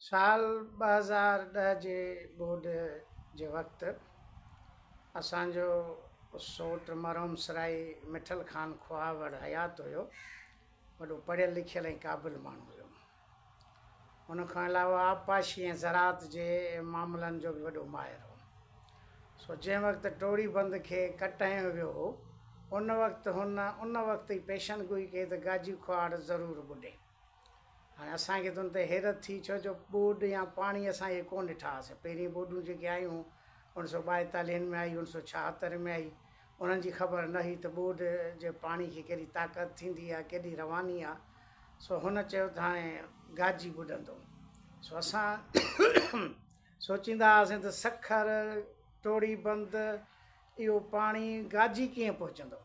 سال ٻه هزار ڏهه جي ٻوڏ جي وقت اسان جو سوٽ مرحوم سرائي مٺل خان کوهاوڙ حيات هيو. وڏو پڙهيل لکيل ۽ قابل ماڻهو هيو. ان کان علاوه آبپاشي ۽ زراعت جي معاملن جو به وڏو ماهر هو. سو جنهن وقت ٽوڙي بند کي ڪٽ هنيو ويو هو، ان وقت هن ان وقت ئي پيشن گوئي ڪئي ته گاجي کوهاڙ ضرور ٻڏي. هاڻي اسان کي ته ان تي حيرت ٿي ڇو جو ٻوڏ يا پاڻي اسان اهي ڪونه ڏٺا هئاسين. پهرين ٻوڏون جيڪي آيون اوهين سو ٻائيتاليهن ۾ آئي اوهين سو ڇاهتر ۾ آئي انهن جي خبر نه هئي ته ٻوڏ جي پاڻي کي ڪهڙي طاقت ٿيندي يا ڪيڏي رواني آ سو هن چيو ته هاڻي گاجي ٻڏندو سو اسان سوچيندا هئاسين ته سکر ٽوڙي بند اهو پاڻي گاجي ڪيئن پهچندو.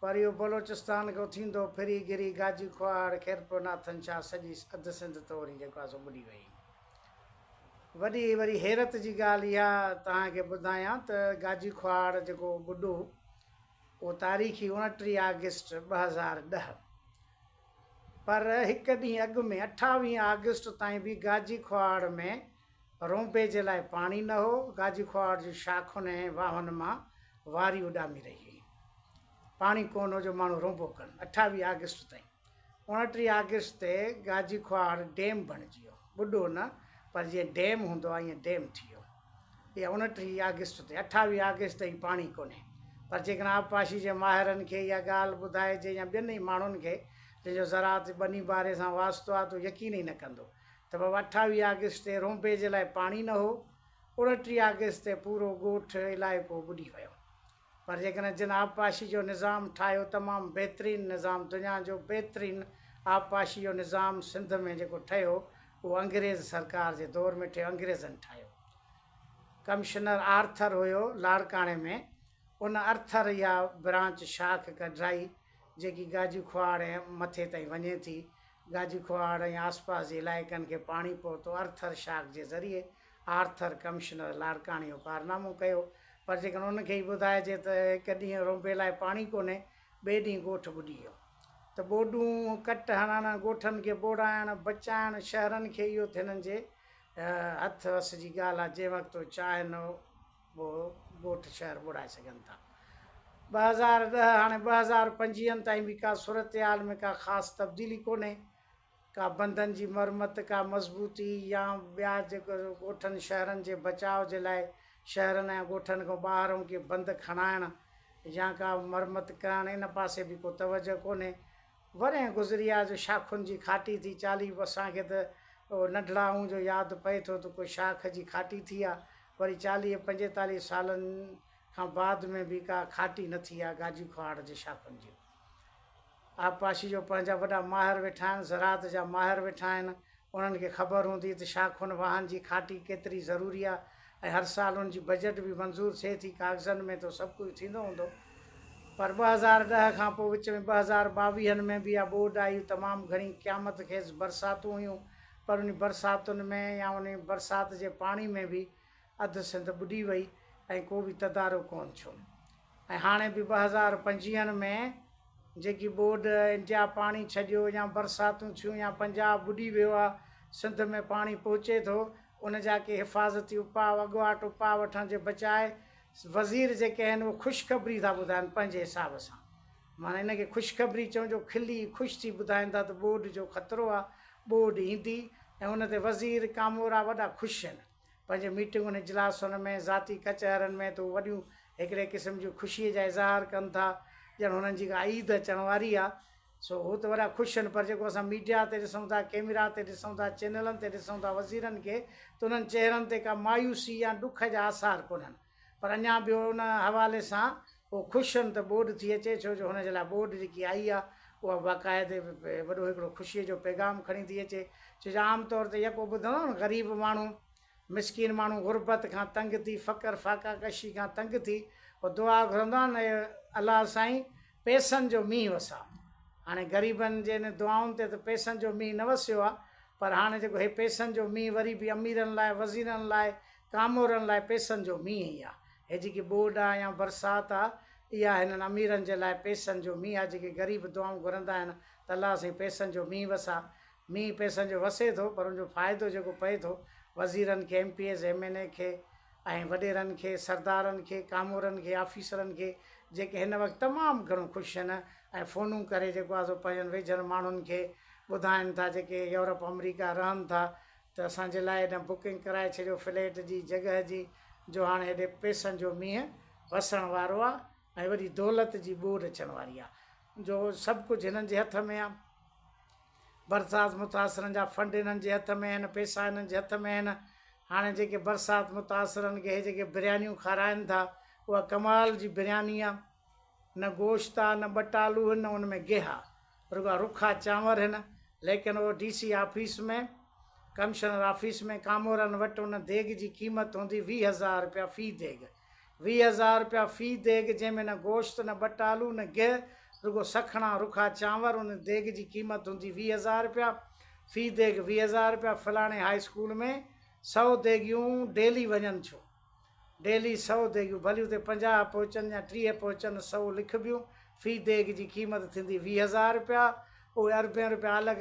پر اهو بلوچستان کان ٿيندو ڦري گري گاجي کوهاڙ خيرپور ناٿن شاهه سڄي اڌ سنڌ تو وري جيڪو آهي سو ٻڏي وئي. وڏي وري حيرت جي ڳالهه اها توهان کي ٻڌايان ته گاجي کوهاڙ جيڪو ٻڏو اهو تاريخي اوڻٽيهه آگسٽ ٻه هزار ڏهه پر هڪ ڏينهن اڳ ۾ اٺاويهه آگسٽ تائين به گاجي کوهاڙ ۾ رونبي جي لاء پاڻي نه هو، گاجي کوهاٽ جي شاخن ۽ واهن مان واري اڏامي رهي هئي. پاڻي ڪونه هو جو ماڻهو رونبو ڪن. اٺاويهه آگسٽ تائين. اوڻٽيهه آگسٽ تي گاجي کوهاٽ ڊيم بڻجي ويو. ٻڏو نه پر جيئن ڊيم هوندو آهي ائين ڊيم ٿي ويو. اها اوڻٽيهه آگسٽ تي. اٺاويهه آگسٽ تائين پاڻي ڪونهي. پر جيڪڏهن آبپاشي جي ماهرن کي اها ڳالهه ٻڌائجي يا ٻين ئي ماڻهن کي جنهن جو زراعت جي ٻني ٻاري سان واسطو آهي ته هو يقين ئي نه ڪندو ته بابا اٺاويهه آگسٽ تي رونبي جي لاء پاڻي نه هو، اڻٽيهه آگسٽ تي پورو ڳوٺ، علائقو ٻڏي ويو. پر جيڪڏهن جن آبپاشي جو نظام ٺاهيو، تمام بهترين نظام، دنيا جو بهترين آبپاشي جو نظام سنڌ ۾ جيڪو ٺهيو، اهو انگريز سرڪار جي دور ۾ ٺهيو، انگريزن ٺاهيو. ڪمشنر آرٿر هيو لاڙڪاڻي ۾، ان ارٿر اها برانچ، شاخ، ڪڍرائي، جيڪي گاجي کهاڙ ۽ مٿي تائين وڃي ٿي. گاجي ڪهاڙ ۽ آسپاس جي علائقن کي پاڻي پهتو، ارٿر شاڪ جي ذريعي آرٿر ڪمشنر لاڙڪاڻي اهو ڪارنامو ڪيو، پر جيڪڏهن ان کي ئي ٻڌائجي ته هڪ ڏينهن رونبي لاء پاڻي ڪونهي، ٻئي ڏينهن ڳوٺ ٻڏي ويو ته ٻوڏون ڪٽ هڻڻ، ڳوٺن کي ٻوڙائڻ، بچائڻ، شهرن کي اهو ٿي هنن جي هٿ وس جي ڳالهه آ، جنهن وقت هو چاهه نه هو. به ڳوٺ شهر ٻوڙائي سگهن ٿا. ٻه هزار ڏهه هاڻي ٻه هزار پنجويهن تائين به ڪا صورتحال ۾ ڪا خاص تبديلي ڪونهي، ڪا بندن جي مرمت، ڪا مضبوطي يا ٻيا جيڪو ڳوٺن شهرن جي بچاء جي لاء شهرن ۽ ڳوٺن کان ٻاهرئون ڪي بند کڻائڻ يا ڪا مرمت ڪرڻ ان پاسي به ڪو توجهه ڪونهي ورهين گذريا جو شاخن جي کاٽي ٿي چالي اسان کي ته اهو ننڍڙائون جو ياد پئي ٿو ته ڪو شاخ جي کاٽي ٿي آ وري چاليهه پنجيتاليهه سالن کان بعد ۾ به ڪا کاٽي نه ٿي آ گاجي کوهاڙ جي شاخن جي آبپاشي جو پنهنجا وڏا ماهر ويٺا آهن زراعت جا ماهر ويٺا آهن انهن کي خبر هوندي ته شاخون واهن جي کاٽي ڪيتري ضروري آهي ۽ هر سال ان جي بجيٽ به منظور ٿئي ٿي. ڪاغذن ۾ ته سڀ ڪجهه ٿيندو هوندو پر ٻه هزار ڏهه کان پوء وچ ۾ ٻه هزار ٻاويهن ۾ به اها ٻوڏ آئي، تمام گهڻي قيامت خيز برساتون هيون پر انهي برساتن ۾ يا انهي برسات جي پاڻي ۾ به اڌ سنڌ ٻڏي وئي ۽ ڪو به تدارڪ ڪون ٿيو ۽ هاڻي به ٻه هزار پنجويهن ۾ جيڪي ٻوڏ انڊيا پاڻي ڇڏيو يا برساتون ٿيون يا پنجاب ٻڏي ويو آهي سنڌ ۾ پاڻي پهچي ٿو ان جا ڪي حفاظتي اپاء اڳواٽ اپاء وٺڻ جي بجاء وزير جيڪي آهن اهي خوشخبري ٿا ٻڌائن پنهنجي حساب سان معنيٰ ان کي خوشخبري چئون جو کلي خوش ٿي ٻڌائيندا ته ٻوڏ جو خطرو آهي ٻوڏ ايندي ۽ ان تي وزير ڪامورا وڏا خوش آهن پنهنجي ميٽنگن، اجلاسن ۾ ذاتي ڪچهرين ۾ ته هو وڏيون هڪڙي قسم جي خوشيء جا اظهار ڪن ٿا، ڄڻ هنن جي ڪا عيد اچڻ واري آ. سو هو ته وڏا خوش آهن، پر جيڪو اسان ميڊيا تي ڏسون ٿا، ڪئميرا تي ڏسون ٿا، چينلن تي ڏسون ٿا وزيرن کي، ته انهن چهرن تي ڪا مايوسي يا ڏک جا آثار ڪونهن. پر اڃا به ان حوالي سان هو خوش هن ته ٻوڏ ٿي اچي ڇو جو هن جي لاء ٻوڏ جيڪي آئي آ اها باقاعدي وڏو هڪڙو خوشي جو پيغام کڻي ٿي اچي ڇو جو عام طور تي يڪو ٻڌندا آهيون غريب ماڻهو مسڪين ماڻهو غربت کان تنگ ٿي فقر فاقا ڪشي کان تنگ ٿي هو دعا گهرندو آهن اي الله سائين پيسن جو مينهن وسا هاڻي غريبن جي ان دعائن تي ته پيسن جو مينهن نه وسيو آ پر هاڻي جيڪو هي پيسن جو مينهن وري به اميرن لاء وزيرن لاء ڪامورن لاء پئسن جو مينهن ئي آ. هي جيڪي ٻوڏ آ يا برسات آ، اها هنن اميرن جي لاء پئسن جو مينهن آ، جيڪي غريب دعائون گهرندا آهن ته الله سائين پئسن جو مينهن وساء. مينهن پئسن جو وسي ٿو، پر ان جو فائدو جيڪو پئي ٿو، وزيرن کي، ايم پي ايز، ايم اين اي کي ۽ وڏيرن کي، سردارن کي، ڪامورن کي، آفيسرن کي، جيڪي هن وقت تمام گهڻو خوش آهن ۽ فونون ڪري جيڪو آ سو پنهنجن ويجهن ماڻهن کي ٻڌائين ٿا، جيڪي يورپ، آمريڪا رهن ٿا، ته اسان جي لاء هن بڪنگ ڪرائي ڇڏيو فليٽ جي جڳهه جي جو هاڻ هيڏي پئسن جو مينهن وسڻ وارو آ ۽ وڏي دولت جي ٻوڏ اچڻ واري آ جو سڀ ڪجهه هنن جي هٿ ۾ آ برسات متاثرن جا فنڊ هنن جي هٿ ۾ آهن پئسا هنن جي هٿ ۾ آهن هاڻي جيڪي برسات متاثرن کي هي جيڪي بريانيون کارائن ٿا اها ڪمال جي برياني آ نه گوشت آ نه ٻٽالو هن نه ان ۾ گيهه آ رڳا رکا چانور هن ليڪن O D C office ۾ commissioner office ۾ ڪامورن وٽ ان ديڳ جي قيمت هوندي ويهه هزار رپيا في ديڳ ويهه هزار رپيا في ديڳ جنهن ۾ نه گوشت نه ٻٽالو نه گيهه رڳو سکڻا رکا چانور ان ديڳ جي قيمت هوندي ويهه هزار رپيا في ديڳ ويهه هزار رپيا فلاڻي هاء اسڪول ۾ سؤ ديڳيون ڊيلي وڃن ڇو ڊيلي سؤ ديڳيون ڀليون تي پنجاهه پهچن يا ٽيهه پهچن سؤ لکبيون في ديڳ جي قيمت ٿيندي ويهه هزار رپيا اهي اربين رپيا الڳ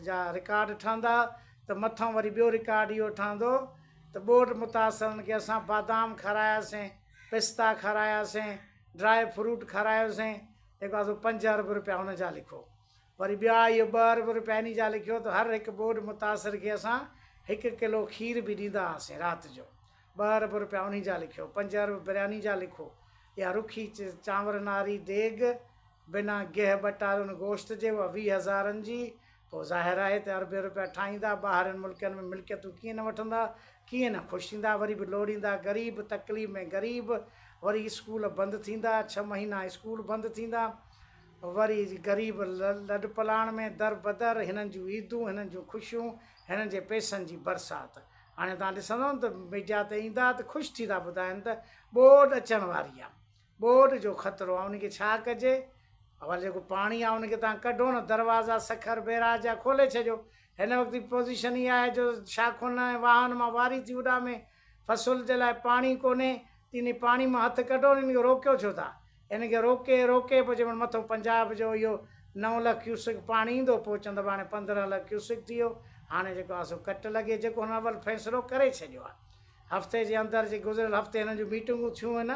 جا رڪارڊ ٺهندا ته مٿئون وري ٻيو رڪارڊ اهو ٺهندو ته ٻوڏ متاثرن کي اسان بادام کاراياسين پستا کاراياسين ڊرائي فروٽ کارايوسين هڪ پاسو پنج ارب رپيا ان جا لکو وري ٻيا اهو ٻه ارب رپياني جا لکيو ته هر هڪ ٻوڏ متاثر کي اسان هڪ ڪلو کير به ڏيندا هئاسين رات جو ٻه ارب رپيا انهي جا لکيو پنج ارب برياني جا لکو اها رکي چانور ناري ديڳ بنا گيهه ٻٽارين گوشت جي اها ويهه هزارن جي پوء ظاهر آهي ته اربين رپيا ٺاهيندا ٻاهرين ملڪن ۾ ملڪيتون ڪيئن نه وٺندا ڪيئن نه خوش ٿيندا وري به لوڙيندا غريب تڪليف ۾ غريب وري اسڪول بند ٿيندا ڇهه مهينا اسڪول بند ٿيندا وري غريب لڏپلاڻ ۾ دربدر، هنن جون عيدون، هنن جون خوشيون، هنن جي پئسن جي برسات. هاڻي توهان ڏسندؤ نه ته ميڊيا تي ايندا ته خوش ٿي ٿا ٻڌائين ته ٻوڏ اچڻ واري آهي، ٻوڏ جو خطرو آهي، ان کي ڇا ڪجي؟ اول جيڪو پاڻي آهي ان کي توهان ڪڍو نه، دروازا سکر بئراج جا کولي ڇڏيو. هن وقت جي پوزيشن اها آهي جو شاخن ۽ واهن مان واري ٿي اڏامي، فصل جي لاء پاڻي ڪونهي تي ني پاڻي مان هٿ ڪڍو ني هن کي روڪيو ڇو ٿا هن کي روڪي روڪي پوء چئبو مٿو پنجاب جو اهو نو لک ڪيوسڪ پاڻي ايندو پوء چوندو هاڻي پندرهن لک ڪيوسڪ ٿي ويو هاڻي جيڪو آهي سو ڪٽ لڳي جيڪو هن اول فيصلو ڪري ڇڏيو آهي هفتي جي اندر جي گذريل هفتي هنن جون ميٽنگون ٿيون هن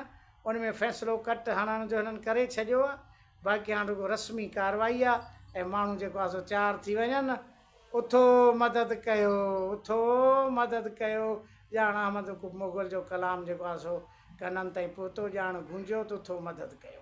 ان ۾ فيصلو ڪٽ هڻڻ جو هنن ڪري ڇڏيو آهي باقي هاڻ رڳو رسمي ڪارروائي آهي ۽ ماڻهو جيڪو آهي سو تيار ٿي وڃن اٿو مدد ڪيو، اٿو مدد ڪيو، ڄاڻ احمد مغل جو ڪلام جيڪو آهي سو ڪنن تائين پهتو، ڄاڻ گونجيو ته اٿو مدد ڪيو.